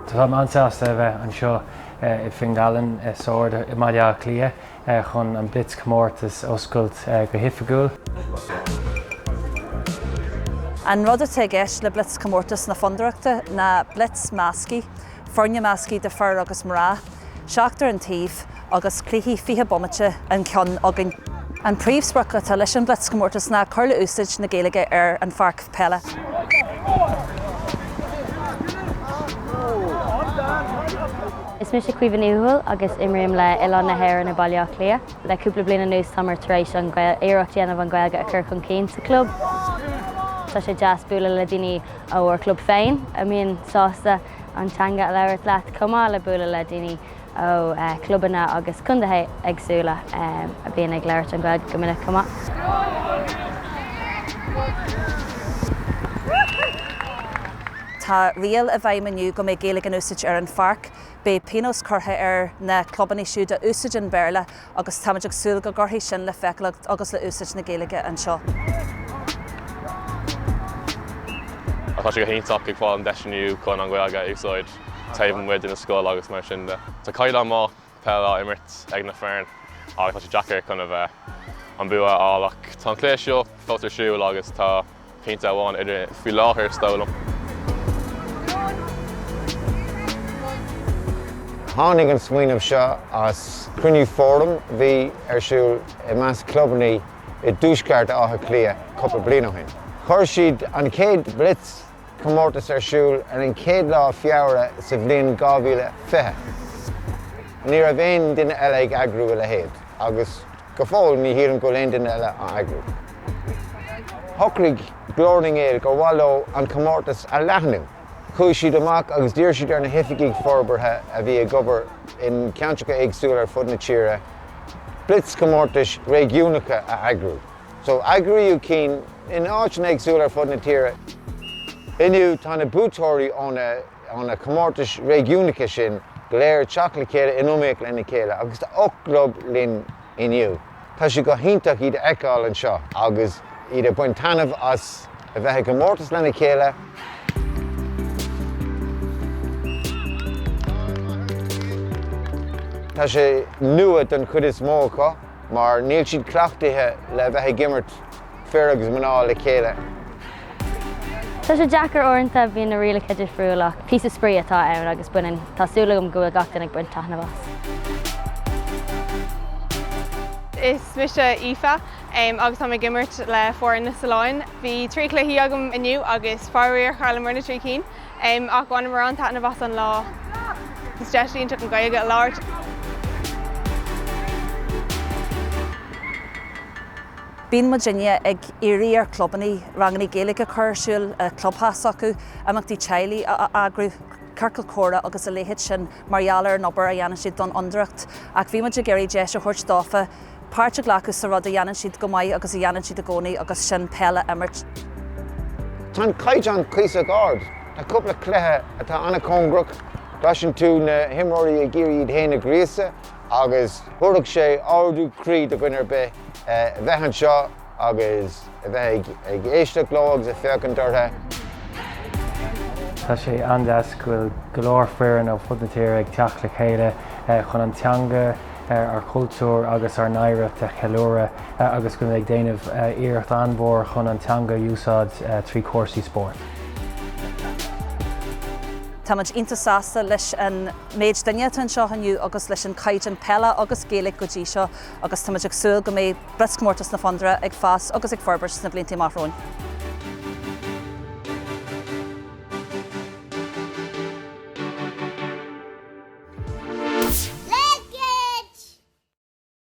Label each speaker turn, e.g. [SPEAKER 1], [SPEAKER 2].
[SPEAKER 1] Táim an-sásta a bheith anseo i bhFinghallen Sord i mBaile Átha Cliath chun an blitzchomórtas oscailt go hoifigiúil.
[SPEAKER 2] An rud atá i gceist le blitzchomórtas na Fondúireachta ná blitz measctha, foirne measctha de fir agus mná. seachtar an taobh agus cluichí 20 bomaite an ceann againn. An príomhsprioc atá leis an Blitzchomórtas ná cur le úsáid na Gaeilge ar an pháirc..
[SPEAKER 3] Is mise Caoimhe Ní Thuathail agus imrím le Oileán na hÉireann i Baile Átha Cliath. Le cúpla bliain anuas táimir tar éis iarracht a dhéanamh an Ghaeilge a chur chun cinn sa chlub. Tá sé deas bualadh le daoine ó ár club féin a mbíonn sásta. an teanga a labhairt leat chomh maith le bualadh le daoine ó chlubanna agus contaetha éagsúla a bhíonn ag labhairt an Ghaeilge go minic chomh maith.
[SPEAKER 2] Tá riail i bhfeidhm inniu go mbeidh Gaeilge in úsáid ar an pháirc. Beidh pionós curtha ar na clubanna siúd a úsáideann Béarla agus táimid ag súil go gcuirfidh sin le feiceálacht agus le úsáid na Gaeilge
[SPEAKER 4] anseo. Tá sé go hiontach ag fáil an deis inniu chun an Ghaeilge a úsáid taobh amuigh den scoil agus mar sin de. Tá caighdeán maith peile á imirt ag na foirne ach tá sé deacair chun a bheith an bua a fháil ach tá an cluiche seo fós ar siúl agus tá pointe amháin idir faoi láthair, is dóigh
[SPEAKER 5] liom. Tháinig an smaoineamh seo as cruinniú fóraim a bhí ar siúl i measc clubannaí i dtuaisceart Átha Cliath cúpla bliain ó shin. Chuir siad an chéad blitzchomórtas ar siúl ar an chéad lá Feabhra sa bhliain 2020. Ní raibh aon duine eile ag eagrú a leithéid agus. Go fóill ní shílim go bhfuil aon duine eile á eagrú. Shocraigh Glór na nGael gur mhaith leo an comórtas a leathnú. Chuaigh siad amach agus d'iarr siad ar na hoifigigh forbartha a bhí ag obair in ceantracha éagsúla ar fud na tíre blitzchomórtais réigiúnacha a eagrú. So eagraíodh cinn in áiteanna éagsúla ar fud na tíre. Inniu tá na buaiteoirí ó na. ó na comórtais réigiúnacha sin go léir ag teacht le chéile in iomaíocht lena chéile agus tá ocht gclub linn inniu. Tá sé go hiontach iad a fheiceáil anseo agus iad ag baint taitneamh as a bheith i gcomórtas lena chéile. Tá sé nua don chuid is mó acu. mar níl siad cleachtaithe le bheith ag imirt fir agus mná le
[SPEAKER 3] chéile. Tá sé deacair uaireanta, bíonn na rialacha difriúil ach píosa spraoi atá ann agus baineann, tá súil agam go bhfuil gach duine ag baint taitneamh
[SPEAKER 6] as. Is mise Aoife agus táim ag imirt le foireann na Sollán. Bhí trí chluiche againn inniu agus faraor, chailleamar na trí cinn. em ach bhain muid an-taitneamh as an lá. Is deis iontach an Ghaeilge a
[SPEAKER 2] labhairt. Bíonn muidinne ag iarraidh ar chlubannaí rangannaí Gaeilge a chur ar siúl i gclubtheach s'acu, imeachtaí teaghlaigh a eagrú, ciorcal comhrá agus a leithéid sin mar gheall ar an obair a dhéanann siad don Fhondúireacht. Ach bhí muid ag iarraidh deis a thabhairt dófa páirt a ghlacadh sa rud a dhéanann siad go maith agus a dhéanann siad i gcónaí agus sin peil a imirt. Tá
[SPEAKER 5] an caighdeán cuíosach ard. Tá cúpla cluiche atá an-chóngarach. Cloiseann tú na himreoirí ag iarraidh iad féin a ghríosadh agus thabharfadh sé ardú croí do dhuine ar bith a bheith anseo. agus a bheith ag éisteacht leo agus ag féachaint ortha.
[SPEAKER 1] Tá sé an-deas go bhfuil go leor foireann ó ar fud na tíre ag teacht le chéile chun an teanga, ár gcultúr agus ár n-oidhreacht a cheiliúradh agus go ag déanamh iarracht an-mhór chun an teanga a úsáid trí chúrsaí
[SPEAKER 2] spóirt. Táimid iontach sásta leis an méid duine atá anseo inniu agus leis an caighdeán peile agus Gaeilge go dtí seo agus táimid ag súil go mbeidh blitz-chomórtas na Fondúireachta ag fás agus ag forbairt sna blianta atá amach romhainn.